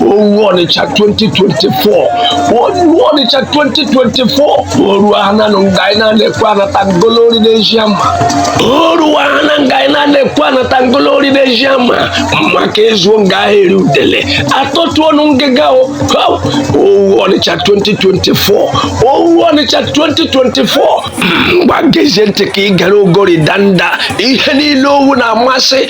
owu ọnịcha 2024 owu ọnịcha 2024 o ruo ananụ nga anyị na-ekwu a na-ata ngolori n'ezi ama o ruwa ahana nga anyị na-ekwu a na-ata ngolori n'ezi ama maka e zuo nga a ha eri udele atọtụonụ ngịga o Ha! owu ọnịcha 2024 owu ọnịcha 2024 ngwa gezie ntị ka ị gara ogori danda ihe niile owu na-amasị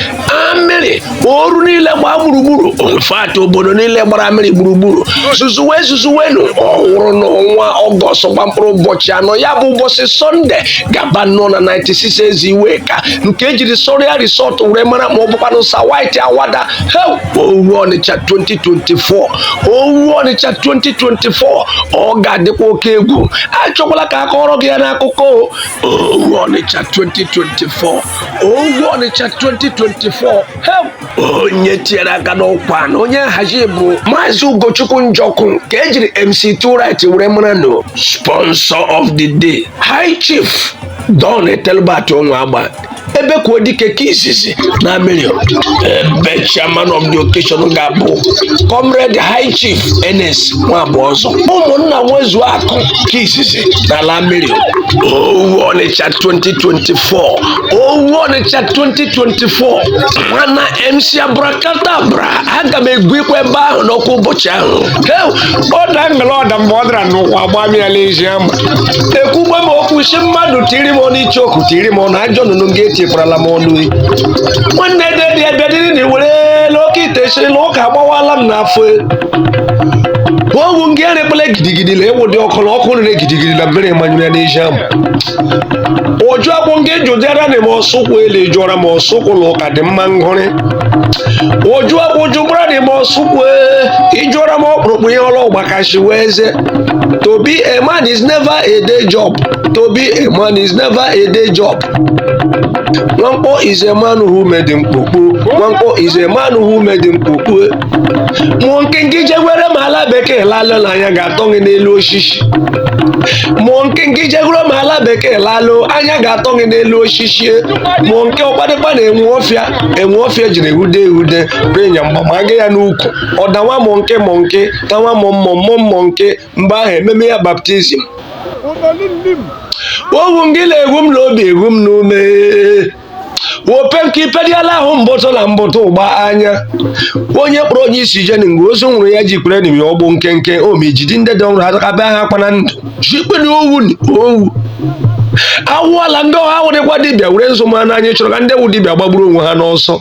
Amiri Oru niile gbaa gburugburu in fact obodo niile gbara Amiri gburugburu zuzuwe zuzuwenu ọ wụrụ n'ọnwa ọgọst gba mkpụrụ ụbọchị anọ ya bụ ụbọchị sọnde gabanụ na 96 ezi Iweka nke ejiri Soria Resort were mara ma ọ bụkwanụ Sir White Awada he owu ọnịcha 2024 owu ọnịcha 2024 ọ ga-adịkwa oke egwu achọkwala ka akọrọ gị ya n'akụkọ Owu Ọnịcha 2024 Owu Ọnịcha 2024 he onye tinyere aka n'ọkwa na onye nhazi bụ Maazị Ugochukwu Njọkụ nke ejiri MC 2right were mara no sponsor of the day High Chief Don Ethelbert Onwuagba Ebekuodike nke izizi na Amiri ebe chairman of the occasion ga-abụ comrade high chief Ernest Nwabụọzọ ụmụnna nwezu akụ nke izizi n'ala Amiri owu ọnịcha 2024 owu ọnịcha 2024 mana mc Abracadabra aga m egwu ikwe ebe ahụ n'ọkwa ụbọchị ahụ he, ọ da ngala ọda mgbe ọ dara n'ụwa gbamịala ezi ama ekwugbe m okwu si mmadụ tiri m ọnụ ichoku tiri m ọnụ ajọ nnụnụ gị etikwurala m ọnụ e. nwanne dedi abịadịrị na iwerela oke ite chiri na ụka agbawala m n'afọ e. owu ngị erekpele gidigidi na ewu dị ọkụ na ọkụ rere gidigidi na mmiri manyụrụ ya n'ezi ama ụjụ akwụ ngị jụdịara na m ọsụkwụ ele jụọra m ọsụkwụ na ụka dị mma ngụrị ụjụ akwụ jụgbara na m ọsụkwụ ịjụọra m ọkpụrụkpụ ihe ọrụ ọgbakashi wee ze to be a man is never a day job to be a man is never a day job. Nwankpọ is a man who made mkpokpo. Nwankpọ is a man who made mkpokpo. Monkey ngị jegwere ma ala bekee lalụ na anya ga-atọ gị n'elu osisi. Monkey ngị jegwere ma ala bekee lalụ anya ga-atọ gị n'elu osisi. Monkey ọkpadịkpa na enwe ọfịa enwe ọfịa jiri ehude ehude renya mgba ma aga ya n'ukwu. Ọ dawa monkey monkey tawa mụọ mmụọ mmụọ monkey mgbe ahụ ememe ya baptizim owu gị na-egwu m n'obi egwu m n'ume ope nke ipediala ahụ mbụtụ na mbụtụ ụgba anya onye kpọrọ onye isi jeni mgbe ozu nwụrụ ya ji kwere nimi ọgbụ nkenke omijidi ndị dị ọhụrụ atakabe ha kpana ndụ jikpere owu owu awụọla ndị ọha wụrịkwa dibịa were nzu ma n'anya chọrọ ka ndị wụ dibịa gbagburu onwe ha n'ọsọ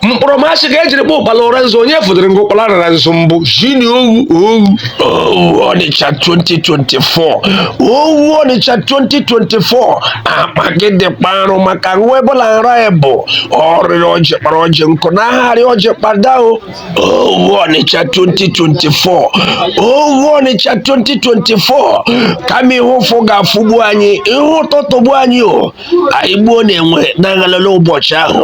mkpọrọ m asị ka e jiri kpọ ụkpala ọra nzu onye fụdịrị nga ụkpala rara nzu mbụ jini owu owu owu ọnịcha 2024 owu ọnịcha 2024 akpa gị dị kparụ maka nwa ebola nra ya bụ ọrịrị ọjị kpara ọjị nkụ na ahagharị ọjị kpada o owu ọnịcha 2024 owu ọnịcha 2024 kama ihe ụfụ ga-afụgbu anyị ihe ụtọ tọgbuo anyị o anyị gbuo na enwe na-aghalala ụbọchị ahụ